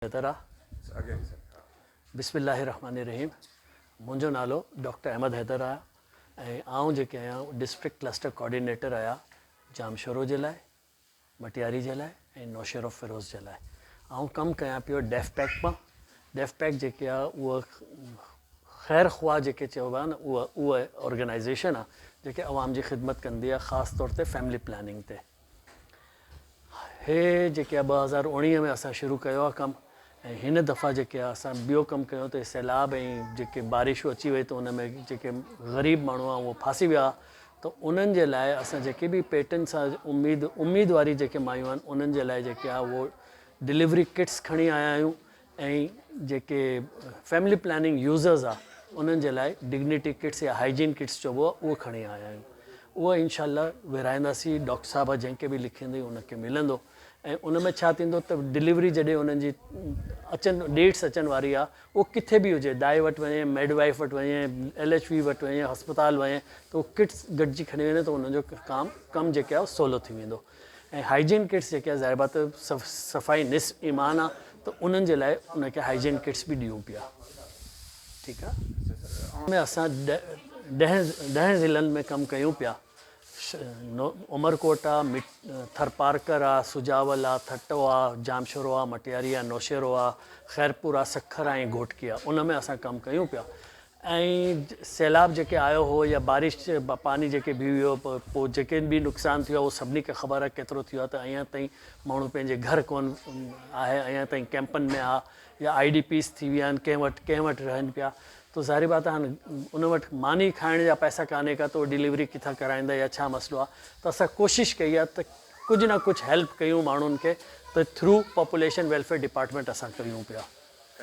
بهتر آ بسم الله الرحمن الرحيم منهنجو نالو ڊاڪٽر احمد حيدر آ ۽ آئون جيڪي آهيان ڊسٽرڪٽ ڪلسٽر ڪوآرڊينيٽر آهيا ڄامشورو جي لاء مٽياري جي لاء ۽ نوشهرو فيروز جي لاء آئون ڪم ڪيان پيو ڊيف پيڪ مان ڊيف پيڪ جيڪي آ اهو خير خواهه جيڪي چئبو آ نه اهو اهو آرگنائيزيشن آ جيڪي عوام جي خدمت ڪندي آ خاص طور تي فيملي پلاننگ تي هي جيڪي آ ٻه هزار اوڻيهه ۾ اسان شروع ڪيو آ ڪم ۽ هن دفعا جيڪي آ اسان ٻيو ڪم ڪيون ته سيلاب ۽ جيڪي بارشون اچي وئي ته ان ۾ جيڪي غريب ماڻهو آ اهو ڦاسي ويا آ ته انهن جي لاء اسان جيڪي به پيٽن سان اميد اميد واري جيڪي مايون آهن انهن جي لاء جيڪي آ اهو ڊليوري ڪٽس کڻي آيا آهيون ۽ جيڪي فيملي پلاننگ يوزرز آ انهن جي لاء ڊگنيٽي ڪٽس يا هائجين ڪٽس چئبو آ اهو کڻي آيا آهيون اهو انشاء الله ورهائينداسي ڊاڪٽر صاحبه جنهن کي به لکيندي ان کي ملندو ۽ ان ۾ ڇا ٿيندو ته ڊليوري جڏهن انهن جي اچن ڊيٽس اچن واري آ اهو ڪٿي به هجي دائي وٽ وڃي ميڊ وائيف وٽ وڃي ايل ايڇ وي وٽ وڃي هسپتال وڃي ته اهو ڪٽس گڏجي کڻي وڃي ته انهن جو ڪام ڪم جيڪي آ سولو ٿي ويندو ۽ هائيجين ڪٽس جيڪي آهي ظاهر بات صفائي نصف ايمان آهي ته انهن جي لاء انهن کي هائيجين ڪٽس به ڏيون پيا ٺيڪ آهي ان ۾ اسان ڏهن ڏهن ضلعن ۾ ڪم ڪيون پيا عمرڪوٽ آهي ٿرپارڪر آهي سجاول آهي ٿٽو آهي ڄامشورو آهي مٽياري آهي نوشهرو آهي خيرپور آهي سکر آهي ۽ گهوٽڪي آهي ان ۾ اسان ڪم ڪيون پيا ۽ سيلاب جيڪي آيو هو يا بارش جي پاڻي جيڪي بيهي ويو پوء جيڪي به نقصان ٿيو آهي اهو سڀني کي خبر آهي ڪيترو ٿيو آهي ته اڃان تائين ماڻهو پنهنجي گهر ڪون آهي اڃان تائين ڪيمپن ۾ آ يا آئي ڊي پيز ٿي ويا آهن ڪنهن وٽ ڪنهن وٽ رهن پيا تو ظاهري بات آهي ان وٽ ماني کائڻ جا پئسا ڪانهي ڪا تو ڊليوري ڪٿان ڪرائيندا يا ڇا مسئلو آهي ته اسان ڪوشش ڪئي آهي ته ڪجهه نه ڪجهه هيلپ ڪيون ماڻهن کي ته ٿرو پاپوليشن ويلفيئر ڊپارٽمينٽ اسان ڪيون پيا